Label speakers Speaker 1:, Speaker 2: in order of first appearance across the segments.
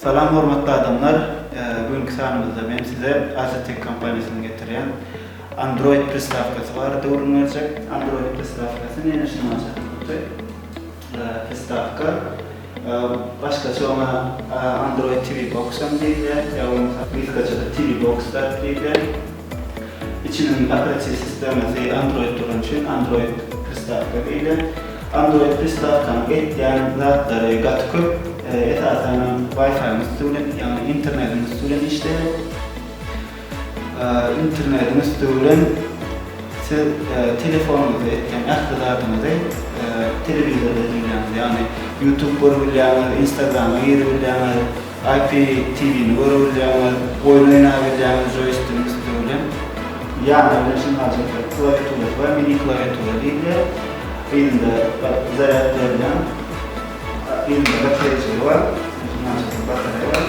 Speaker 1: Salam hormatly adamlar, bu günki sanymyzda men size Asetek kompaniýasynyň getirýän Android pristawkasy barada gürrüň berjek. Android pristawkasy näme üçin aljak boldy? Pristawka başgaça oňa Android TV Box hem diýilýär, ýa bolmasa gysgaçada TV Box dagy diýilýär. Içiniň operatiw sistemasy Android bolany üçin Android pristawka diýilýär. Android pristawkanyň etýän zatlary gaty köp. Esasanam Wi-Fi-niň üsti bilen, ýagny internetiň üsti bilen işleýär. Internetiň üsti bilen siz telefonuňyzda etýän ähli zadyňyzy telewizorda diňleýäňiz, ýagny YouTube görüp bilýäňiz, Instagrama girip bilýäňiz, IPTV-ni görüp bilýäňiz, oýun oýnap bilýäňiz joýstigiň üsti bilen. Ýana bir näçe gadjetiň klawiaturasy bar, mini klawiatura diýilýär. Yzynda zarýad berilýän yzynda batareýjigi bar. Näçe sany batareýa bar.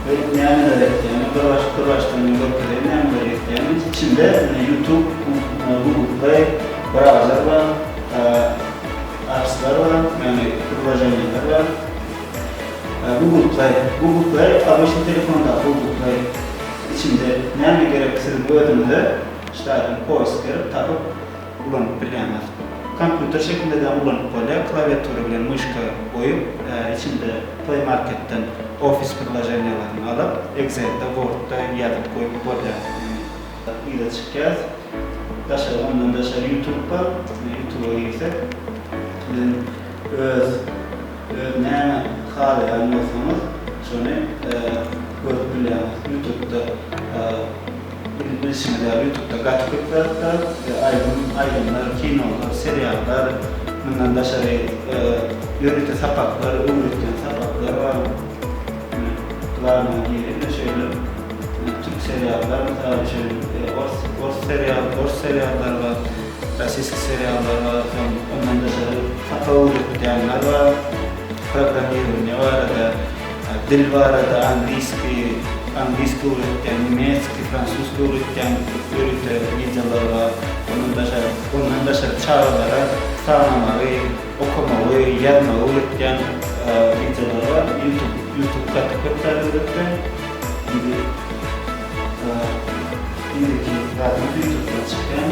Speaker 1: Men nämeler etýänim, bir baş, bir başdan men görüp bileýin nämeler etýänim. Içinde ýutub, google play, brauzer bar, apslar bar, ýagny priloženiýeler bar. Google play, google play obýşni telefondaky google play. Içinde näme gerek siziň özüňize ştaýdan poýsk berip tapyp. Ulanyp bilýäňiz. Kompýuter şekilde-de ulanyp bolýar, klawiatura bilen myşka goýup, içinde Play Marketden Office priloženiýalaryny alyp, Excel-de, Word-da ýazyp goýup bolýar. Yza çykýas. Daşary, ondan daşary YouTube bar. YouTube-a girsek, biziň öz, öz näme halaýan bolsaňyz, şony görüp bilýäňiz. YouTube-da. Biziň bilşimiz ýaly ýutupda gaty köp zatlar, aýdym, aýdymlar, kinolar, seriallar, mundan daşary ýörite sapaklar, öwredýän sapaklar bar. Ine, glawnyýa girip ine şeýle türk seriallar mysal üçin, ors, ors serial, ors seriallar bar, rossiýski seriallar bar, soň ondan daşary sapak öwredýänler bar, programmirowaniýa barada. Dil barada angliski, angliski öwretýän, nemeski, fransuski öwretýän ýörite wideolar bar. Ondan daşary, ondan daşary çagalara sanamagy, okamagy, ýazmagy öwretýän wideolar bar. Ýutub, ýutub gaty köp zat öwretýär. Indi, indiki zadym ýutubdan çykýan.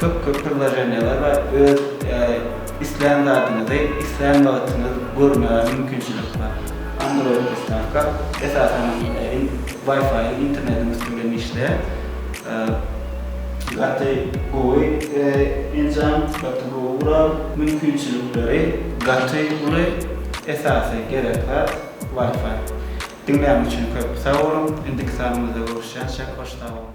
Speaker 1: Köp köp pridloženiýalar bar öz islän zadyňyzy islän wagtyňyz görmäge mümkinçilik bar android pristavka esasan wi-fi internetiň üsti bilen işleýär gaty gowy enjam gaty gowy gural mümkinçilikleri gaty uly esasy gerek zat wi-fi diňlän üçin köp sag boluň indiki sanymyzda görüşýänçä hoş sag boluň.